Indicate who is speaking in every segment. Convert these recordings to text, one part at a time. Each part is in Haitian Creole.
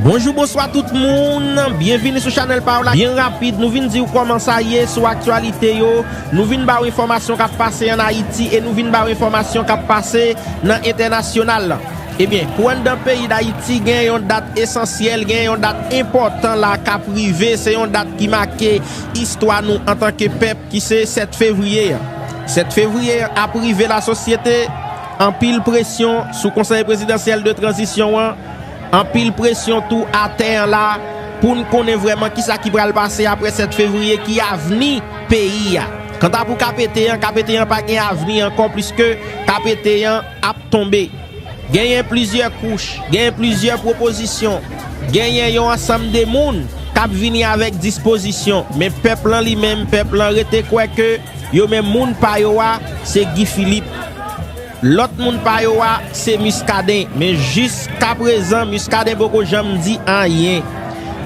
Speaker 1: Bonjou bonswa tout moun, byenvini sou chanèl pa w la byen rapid nou vin di w kòman sa ye sou aktyalite yo, nou vin ba w enfòmasyon k ap pase an Ayiti e nou vin ba w enfòmasyon k ap pase nan entènasyonal lan. Ebyen pou anndan peyi Dayiti gen yon dat esansyèl, gen yon dat enpòtan la k ap rive, se yon dat ki make istwa nou antanke pèp ki se 7 fevriye an. 7 fevriye an ap rive lasosyete, anpil presyon sou konsèy prezidansyèl de tranzisyon an, Anpil presyon tou atè an la pou n konnen vrèman kisa ki pral pase aprè 7 fevriye, ki avni peyi a. Kanta pou KPT an, KPT an pa gen avni ankò pliske KPT an ap tonbe. Genyen plizyè kouch, genyen plizyè pwopozisyon, genyen yon ansanm de moun k ap vini avèk dispozisyon, men pèp lan li menm, pèp lan rete kwè ke yo menm moun pa yo a se Guy Philippe. Lòt moun pa yo a se Muscadin, men jis ka prezan Muscadin poko janm di anyen.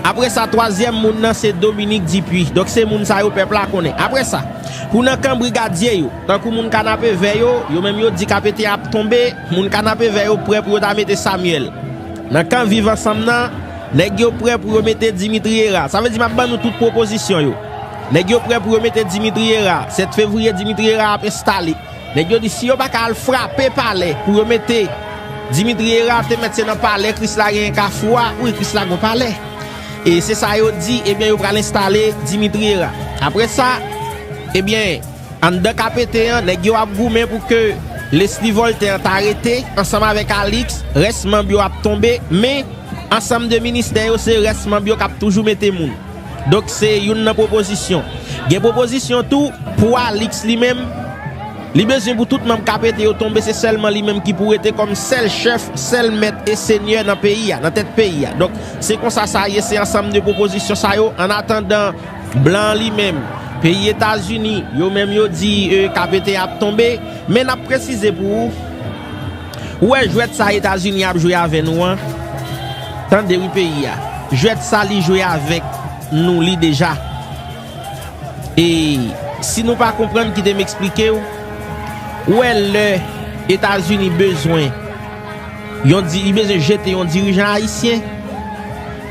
Speaker 1: Apre sa twazyèm moun nan se Dominique Dupuy. Donk se moun sa yo pèp la konnen. Apre sa, pou nan kan brigadye yo, tankou moun Kanapevè yo, yo menm yo di Kapeten ap tonbe, moun Kanapevè yo prè pou yo ta mete Samuel. Nan kan Viv Ansanm nan, nèg yo prè pou yo mete Dimitri Herard. Sa vle di m ap ban nou tout pwopozisyon yo. Nèg yo prè pou yo mete Dimitri Herard. 7 fevriye Dimitri Herard ap enstale. Nèg yo di si yo pa ka al frape palè pou yo mete Dimitri Herard te mèt se nan palè krisla genyen kafou a wi krisla gon palè e se sa yo di ebyen yo pral enstale Dimitri Herard aprè sa ebyen anndan kapeten an nèg yo ap goumen pou ke Lesly Voltaire an ta rete ansanm avèk Alix rès manb yo ap tonbe men ansanm de ministè yo se rès manb yo kap toujou mete moun. Donk se youn nan pwopozisyon. Gen pwopozisyon tou pou Alix li menm, li bezwen pou tout manm KPT yo tonbe se sèlman li menm ki pou rete kòm sèl chèf, sèl mèt e senyè nan peyi a, nan tèt peyi a. Donk se konsa sa ye, se ansanm de pwopozisyon sa yo. An atandan, blan an li menm, peyi Etazini, yo menm yo di KPT a ap tonbe. Men n ap presize pou ou. Ou wè jwèt sa etazini ap jwe avè nou an tande wi peyi a jwèt sa li jwe avèk nou li deja e si nou pa konprann kite m esplike w ou wè lè etazini bezwen yon di li bezwen jete yon dirijan ayisyen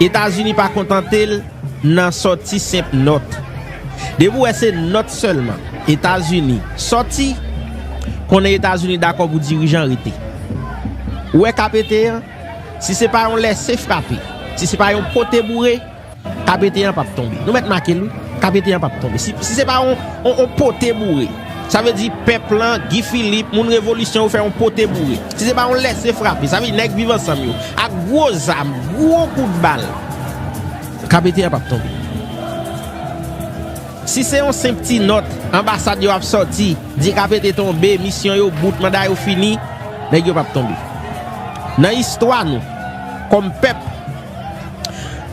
Speaker 1: etazini pa kontante l. Nan sòti senp nòt. Depi w wè se nòt sèlman, Etazini, sòti, konnen Etazini dakò pou dirijan rete. Ou wè ka pete an, si se pa yon lèse frape, si se pa yon pote boure, ka pete an p ap tonbe. Nou mèt make l wi, ka pete an p ap tonbe. Si se pa yon pote boure. Sa vle di pèp lan, Guy Philippe, moun revolisyon yo fè yon pote boure. Si se pa yon lèse frape, sa vle di nèg Viv Ansanm yo, ak gwo zam, gwo kout bal, KPT a p ap tonbe. Si se yon senp ti nòt, anbasad yo ap sòti, di KPT tonbe, misyon yo bout, manda yo fini, nèg yo p ap tonbe. Nan istwa nou, kòm pèp.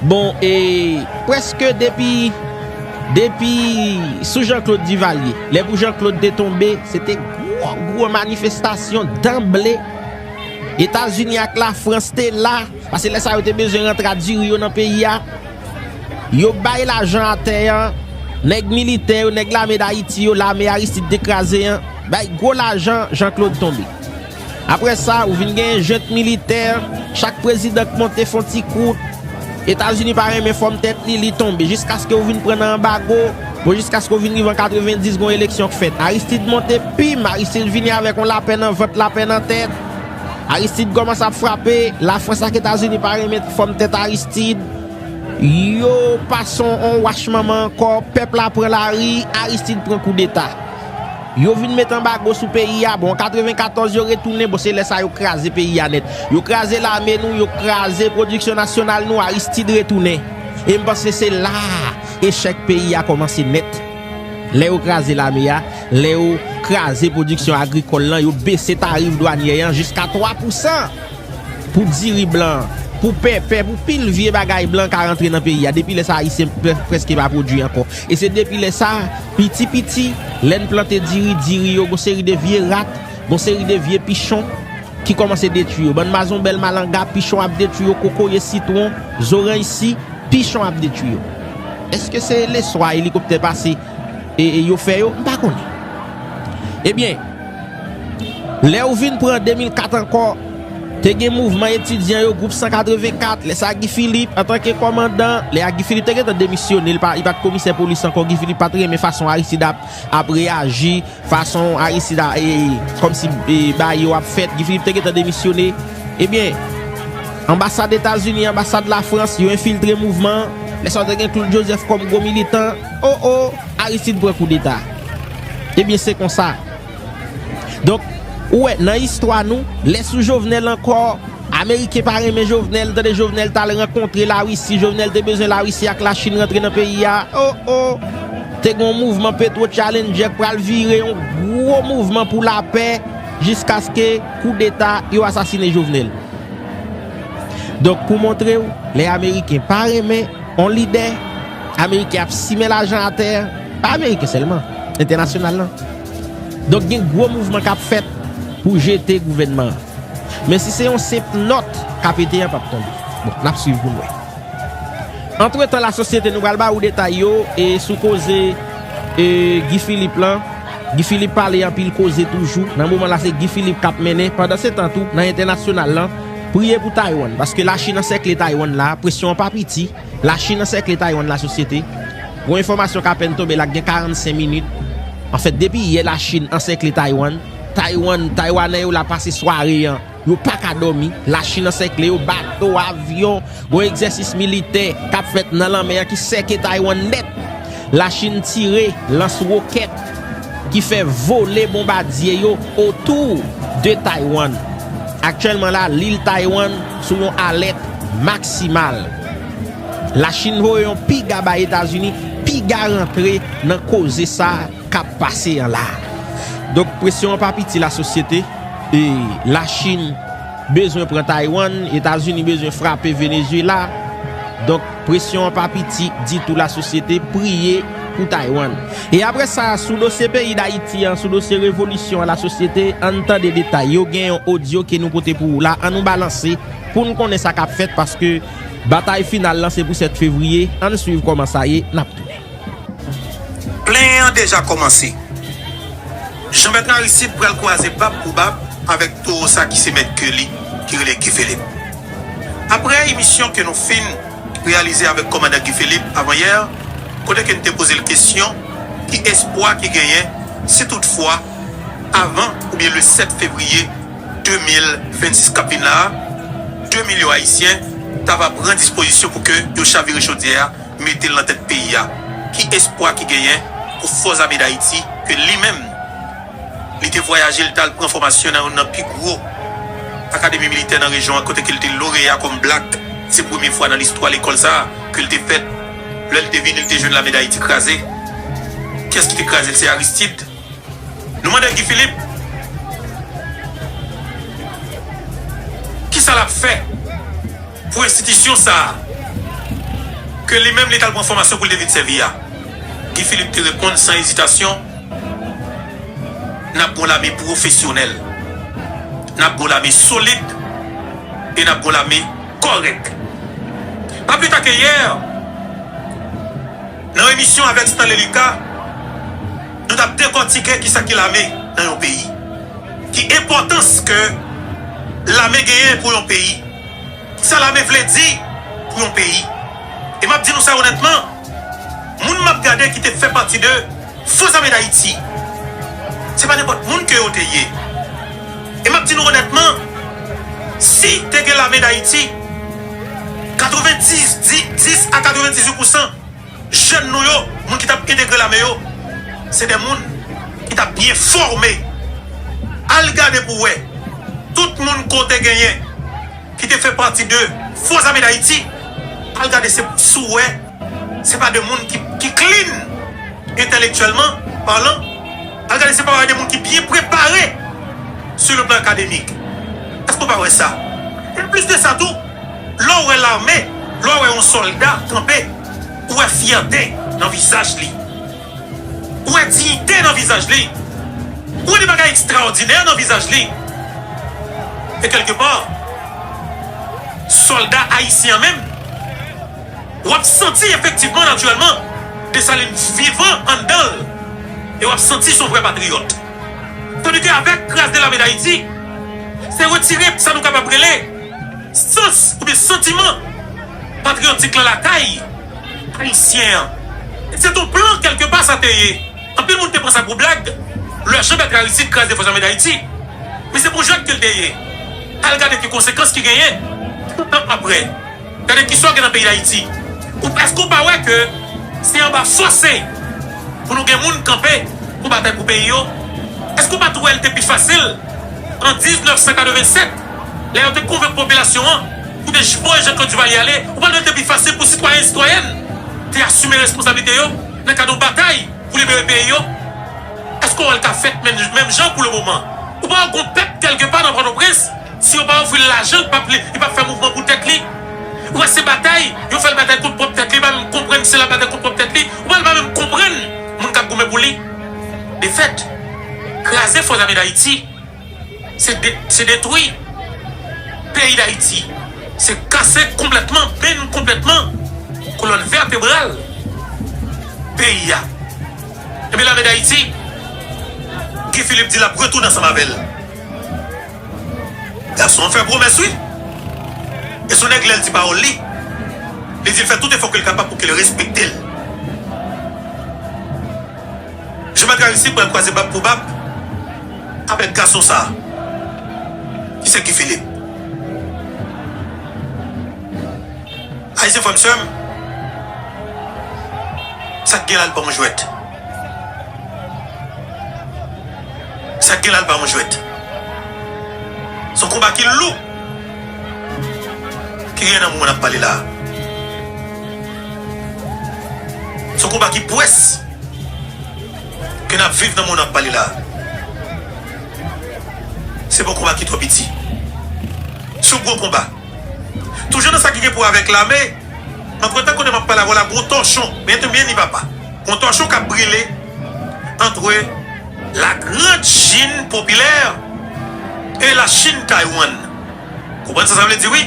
Speaker 1: Bon e preske depi depi sou Jean Claude Duvalier lè pou Jean Claude te tonbe se te gwo gwo manifestasyon danble Etazini ak la Frans te la pase lè sa yo te bezwen rantre a diri yo nan peyi a yo bay lajan a tè an nèg militè yo nèg lame dayiti yo lame Aristide te kraze an bay gwo lajan Jean Claude tonbe. Apre sa, ou vin genyen jent militè, chak prezidan k monte fon ti kout, Etazini pa renmen fòm tèt li, li tonbe, jiskaske ou vin pran nan anbago, bon jiskaske ou vin rive an 90 gon eleksyon k fèt, Aristid monte, pim, Aristid vini avèk on lapè nan vant, lapè nan tèt, Aristid kòmanse ap frape, Lafrans ak Etazini pa renmen fòm tèt Aristid, yo pase on wach manman ankò, pèp la pran lari, Aristid pran koudeta. Yo vin met anbago sou peyi a, bon an 94 yo retounen, bon se lè sa yo kraze peyi a nèt. Yo kraze lame nou, yo kraze pwodiksyon nasyonal nou, Aristide retounen. E m panse se la a echèk peyi a kòmanse nèt. Lè yo kraze lame a, lè yo kraze pwodiksyon agrikòl lan, yo bese tarif dwanyè an jiska 3 pou 100 pou diri blan an, pou pèpè, pou pil vye bagay blan ka rantre nan peyi a. Depi lè sa a Ayisyen prèske pa pwodui ankò. E se depi lè sa a. Piti piti, lè n plante diri, diri yo gon seri de vye rat, gon seri de vye pichon ki kòmanse detwi yo. Bann mazonbèl, malanga, pichon ap detwi yo, kokoye, sitwon, zoranj si, pichon ap detwi yo. Èske se leson a elikoptè pase yo fè yo? M pa konnen. Ebyen. Lè ou vin pran 2004 ankò, te gen mouvman etidyan yo, gwoup 184, lè sa Guy Philippe, antanke kòmandan, lè a Guy Philippe te gentan demisyone, li pa t komisè polis ankò, Guy Philippe pa t renmen fason Aristide ap reyaji, fason Aristide a, kòm si bagay yo ap fèt, Guy Philippe te gentan demisyone, ebyen, anbasad Etazini, anbasad Lafrans, yo enfiltre mouvman an, lè sa te gen Claude Joseph kòm gwo militan. Oh oh Aristide pran kou deta ebyen se konsa donk ou wè nan istwa nou lè sou Jovenel ankò ameriken pa renmen Jovenel ou tande Jovenel tal rankontre la Russie Jovenel te bezwen la Russie ak la Chine rantre nan peyi a oh oh te gon mouvman petro challenger k pral vire yon gwo mouvman pou lapè jiskaske kou deta yo asasine Jovenel donk pou montrew lè ameriken pa renmen yon lidè. Ameriken ap simen lajan atè, pa Ameriken sèlman, entènasyonal lan. Donk gen gwo mouvman k ap fèt pou jete gouvènman an. Men si se yon senp nòt k ap ete an p ap tonbe. Bon, n ap swiv pou n wè. Antretan lasosyete nou pral ba ou detay yo e sou koze e Guy Philippe lan. Guy Philippe pale anpil koze toujou. Nan moman la se Guy Philippe k ap mennen. Pandansetan tou, nan entènasyonal lan, priye pou Taywann. Paske Lachin ansèkle Taywann la, presyon an pa piti. Lachin ansèkle Taiwan la sosyete, yon enfòmasyon k apèn tonbe la gen 45 minit. Anfèt depi yè Lachin ansèkle Taiwan, Taiwan, Taiwanè yo la pase sware an, yo pa ka dòmi, Lachin ansèkle yo, bato, avyon, gon egzèsis militè k ap fèt nan lanmè an ki sèke Taiwan nèt, Lachin tire lans wokèt. ki fè vole bonbadye yo otou de Taywann. Aktyèlman la, lil Taywann sou yon alèt maksimal. Lachin voye yon piga bay Etazini, piga rantre nan koze sa k ap pase an la. Donk presyon an pa piti la sosyete, e Lachin bezwen pran Taywann, Etazini bezwen frape Venezuela. Donk. Presyon an pa piti ditou la sosyete priye pou Taiwan. E apre sa sou dosye peyi dayiti an sou dosye revolisyon an la sosyete ann tande detay yo gen yon odyo ke nou pote pou ou la an nou balanse poun konnen sa kap fèt paske batay final lan se pou 7 fevriye ann swiv kòman sa ye nap tounen. Plen
Speaker 2: an deja kòmanse. Jean Bertrand Aristide pral kwaze bab pou bab avèk towo sa ki se mèt ke li ki rele Guy Philippe. Aprè emisyon ke nou fin reyalize avèk Kòmandan Guy Philippe avanyè, kote ke n te poze l kesyon ki espwa ki genyen si tout fwa avan oubyen le 7 fevriye 2026 k ap vin la a, 2 milyon Ayisyen ta va pran dispozisyon pou ke yo chavire chodyè a mete l nan tèt peyi a, ki espwa ki genyen pou Fòzame Dayiti ke li menm. Li te vwayaje, li t al pran fòmasyon nan youn nan pi gwo akademi militè nan rejyon an kote ke li te loreya kòm Black. Se premye fwa nan listwa lekòl sa a ke li te fèt. Lè li te vini, li te jwenn lame Dayiti kraze. Kiyès ki te kraze l? Se Aristide. Nou mande Guy Philippe kisa l ap fè pou enstitisyon sa a ke li menm li t al pran fòmasyon pou l te vin sèvi a. Guy Philippe te reponn san ezitasyon. N ap gen yon lame pwofesyonèl, n ap gen yon lame solid e n ap gen yon lame kòrèk. Pa pli ta ke yè, nan yon emisyon avèk Stanley Lucas, nou t ap dekòtike ki sa ki lame nan yon peyi, ki enpòtans ke lame genyen pou yon peyi, ki sa lame vle di pou yon peyi. E m ap di nou sa onètman, moun m ap gade ki te fè pati de Fo zame dayiti se pa nenpòt moun ke yo te ye e map di nou onètman si te gen lame dayiti 90 10 a 98 pousan jèn nou yo moun ki tap entegre lame yo se de moun ki tap byen fòme al gade pou wè tout moun ko te genyen ki te fè pati de fo zame dayiti al gade se pou sou wè. Se pa de moun ki clean entèlektyèlman palan. Al gade se pa de moun ki byen prepare sou le plan akademik. Èske nou pa wè sa? Anplis de sa tou, lè w wè lame, lè w wè yon sòlda kanpe, ou wè fyète nan vizaj li. Ou wè diyite nan vizaj li. Ou wè de bagay ekstraòdinè nan vizaj li. E kèlke pa, sòlda ayisyen an menm. w ap santi efektivman, natirèlman, Dessalines vivan anndan l e w ap santi s on vrè patriyòt. Tandike avèk Grâce de l'Armée d'Haïti, se retire sa nou kapab rele sans oubyen santiman patriyotik la lakay Ayisyen an. E sèt on plan kèlke pa sa te ye. Anpil moun te pran sa pou blag lè Jean Bertrand Aristide kraze Fòs Ame Dayiti. Men se pou jwèt ke l te ye. Al gade ki konsekans ki genyen 30 an aprè. Gade kisa w gen nan peyi dayiti ou eske ou pa wè ke se anba fose pou nou gen moun kanpe pou batay pou peyi yo eske ou pa tou wè li te pi fasil an 1987 lè yo te konvenk popilasyon an pou te voye Jean Claude Duvalier ale ou pa wè li te pi fasil pou sitwayen sitwayèn te asime responsablite yo nan kad yon batay pou libere peyi yo eske w wè li ka fèt menm jan pou le moman ou pa wè gon pèp kelke pa nan pòtoprens Si yo pa ofri l lajan li pap li pap fè mouvman pou tèt li ou wè se batay yo fèl batay kont pwòp tèt li pa menm konprann se lap batay kont pwòp tèt li ou wè li pa menm konprann moun kap goumen pou li defèt kraze fò zame dayiti se de se detwi peyi dayiti se kase konplètman benn konplètman kolòn vètebral peyi a ebyen lame dayiti Guy Philippe di lap retounen ansanm avèl. Gason an fè pwomès wi. E son nèg lèl di pawòl li, li dil fè tout efò kel kapab pou kel respektel. Jan bagay la isit pral kwaze bab pou bab avèk gason sa ki se Guy Philippe. Ayisyen frèm sèm sak gen la al banm jwèt. Sa k gen la l pa yon jwèt. S on konba ki lou ki genyen nan moman n ap pale la a. S on konba ki pwès ke n ap viv nan moman n ap pale la a. Se pa yon konba ki twò piti. S on gwo konba. Toujou nan sa ki gen pou wè avèk lame, mwen pran tan konnen m ap pale avè w la gwo tòchon. Byen te byen ni papa. Yon tòchon k ap brile antre La Grande Chine Populaire e La Chine Taïwan. Konprann sa sa vle di wi.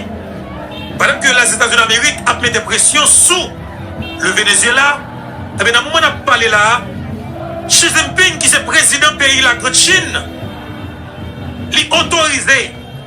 Speaker 2: Pandan ke Lèzetazini Damerik ap mete presyon sou Le Venezyela, enben nan moman n ap pale la a, Xi Jinping ki se prezidan peyi La Grande Chine, li otorize.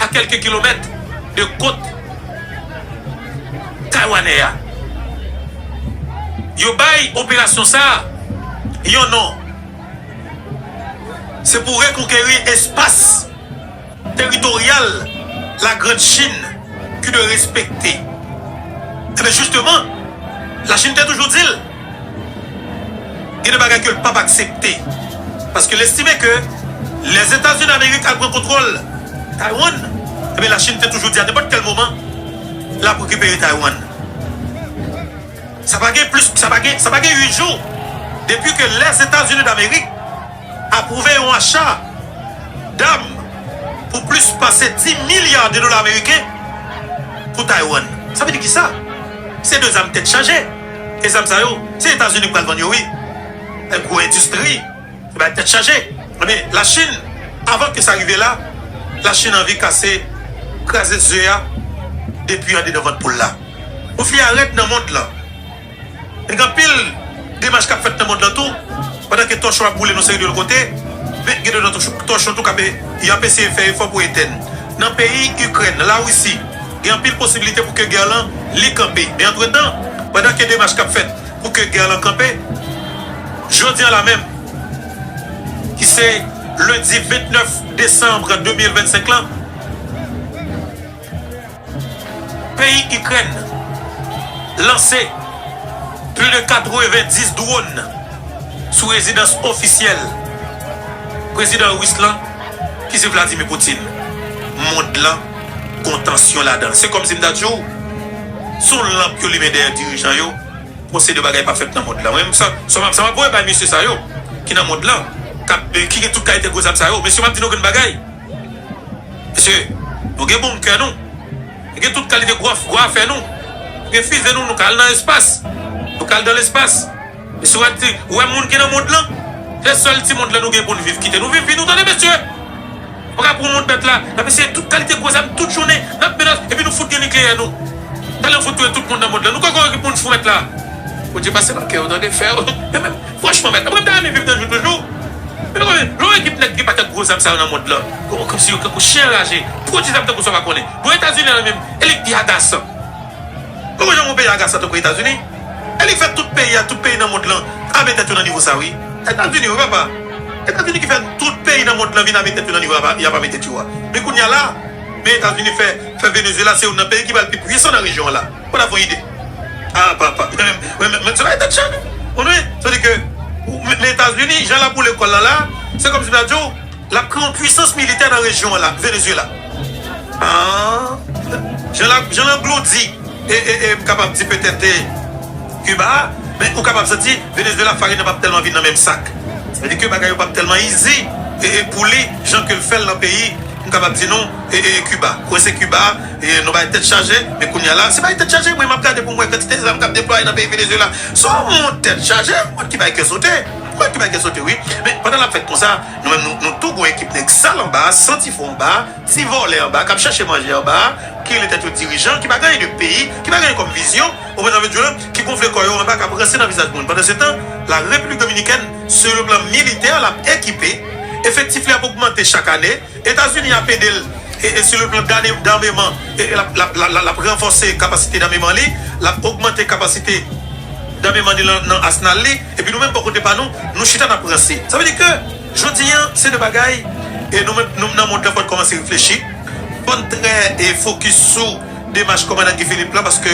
Speaker 2: a kèlke kilomèt de kot taywanè a. Yo bay operasyon sa a yon non, se pou rekonkeri espas teritoryal la Grand Chin ki dwe respekte. Enben jisteman, la Chin te toujou di l. Gen de bagay ke l pap aksepte. Paske l estime ke Lèzetazini Damerik al pran kontwòl Taiwan, ebyen Lachin te toujou di a nenpòt kèl moman l ap rekipere Taiwan. Sa pa gen plis, sa pa gen, sa pa gen 8 jou depi ke Lèzetazini Damerik apwouve yon acha dam pou plis pase 10 milya de dola meriken pou Taiwan. Sa vle di kisa? Se de zam tèt chaje. E zam sa yo se etazini ki pral vann yo wi e gwo endistri e bay tèt chaje ebyen la chine avan ke sa rive la la chine anvi kase kraze ze a depi andedan vant poul la ou fi a rèd nan mond lan e gen anpil demach kap fèt nan mond lan tou pandan ke tòchon ap boule nan seri de lòt kote men gen de lòt tòchon tou kap e yap eseye fè efò pou etèn nan peyi ikrèn la russie. Gen anpil posibilite pou ke gè lan li kanpe. Men antretan, pandan ke demach kap fèt pou ke gè lan kanpe, jodi an la menm, ki se lendi 29 desanm 2025 lan, peyi Ikrèn lanse plis de 90 dwòn sou rezidans ofisyèl prezidan ris lan ki se Vladimir Putin. Mond lan. gon tansyon ladanl se kòm sim ta di w son lanp yo limen dèyè dirijan yo bon se de bagay pa fèt nan mond la mwen sa sa map voye bay mesye sa yo ki nan mond la kap ki gen tout kalite gwo zam sa yo mesye map di nou grenn bagay mesye nou gen bonkè nou nou gen tout kalite gwo afè nou nou gen fize nou nou ka al nan espas nou ka al dan lespas. Mesye wè ti, wè moun ki nan mond lan. Se sèl ti mond lan nou gen poun viv kite nou viv vi nou tande mesye. Nou paka pran mond bèt la nap eseye tout kalite gwo zam tout jounen nap menas epi nou fout gen nikleyè nou talen fout touye tout moun nan mond lan nou kwè gen poun fou mèt la. Bondye pase nan kè yo tande fè yo men menm franchman mèt la mwen m ta renmen viv nan jou toujou men nou konnen lè w wè ekip nèg ki paket gwo zam sa yo nan mond lan yo kòmsi yo tankou chen anraje pwodui zam tankou sa w pa konnen bon etazini an li menm e li pi agasan nou konnen yon peyi agasan tankou etazini. E li fè tout peyi a, tout peyi nan mond lan ame tèt yo nan nivo sa wi. Etazini wi papa. Etazini ki fè tout peyi nan mond lan vin ame tèt yo nan nivo y ap ame tèt yo a. Men kounya la, men Etazini fè fè Venezuela se youn nan peyi ki pral pi pwisan nan rejyon an la. Ou ta fon ide. Ah papa. Men se bagay tèt chaje. Ou konnen? Sa vle di ke men Etazini jan l ap boule kò l lan la, se kòmsi m ta di w, Lap kreye yon pwisans militè nan rejyon an la Venezuela aah jan lap jan langlo di e e e m kapab di petèt e Cuba men ou kapab santi Venezuela farin nan pap tèlman vin nan menm sak sa vle di ke bagay yo pap tèlman izi e e pou li jan ke l fèl nan peyi m kapab di nou e e Cuba mwen se Cuba e nou bay tèt chaje men kounya la se bay tèt chaje mwen map gade pou m wè kantite zam kap deplwaye nan peyi Venezuela son moun tèt chaje moun ki bay kè sote moun ki bay kè sote wi men pandan lap fèt konsa. Nou menm nou tou gou ekip nèg sal anba, santi fò anba, ti vòlè anba kap chache manje anba, ki rele tèt yo dirijan, ki pa gen anyen de peyi, ki pa gen anyen kòm vizyon, ou konprann sa vle di yo, ki gonfle kò yo anba kap ranse nan vizaj moun. Pandansetan, la Repiblik Dominikèn, sou yon plan militè, lap ekipe, efektif li ap ogmante chak ane, Etazini ap ede l e sou le plan dameman, lap ranfòse kapasite dameman li, lap ogmante kapasite dameman li nan asnal li. Epi nou menm bò kote pa nou, nou chita n ap ranse. Sa vle di ke jodi an, se de bagay e nou menm nou nan mond lan fò'n kòmanse reflechi, fò'n trè e fokis sou demach kòmandan Guy Philippe lan paske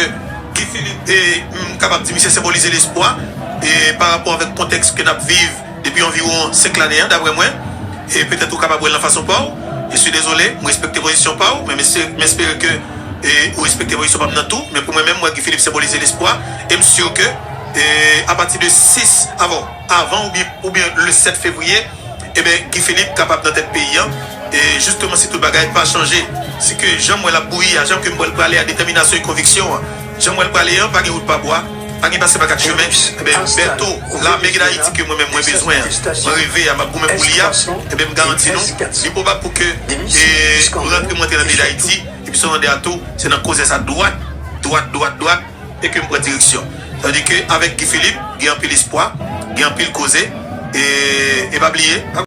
Speaker 2: Guy Philippe e m kapab di misye senbolize lespwa e pa rapò avèk kontèks ke n ap viv depi anviwon 5 lane an daprè mwen e petèt ou kapab wè l nan fason pa w. Je suis désolé, m respekte pozisyon pa w men m espere ke e ou respekte pozisyon pa m nan tou men pou mwen menm m wè Guy Philippe senbolize lespwa e m sur ke E apati de 6 avo avan oubyen oubyen le 7 fevriye eben Guy Philippe kapab nan tèt peyi an e jisteman si tout bagay pa chanje si ke janm wè lap bouyi a janm kem wèl prale a detèminasyon e konviksyon an janm wèl prale an pa gen wout pa bwa pa gen pase pa 4 chemen eben Bertho lame ki dayiti ke mwen menm mwen bezwen an mwen reve a map goumen pou li a eben m garanti nou li pwobab pou ke e rantre mwen antre nan peyi dayiti epi Solander a tou se nan koze sa dwat dwat dwat dwat. e ke m pran direksyon. Tandi ke avèk Guy Philippe, gen anpil espwa, gen anpil koze, e pa bliye.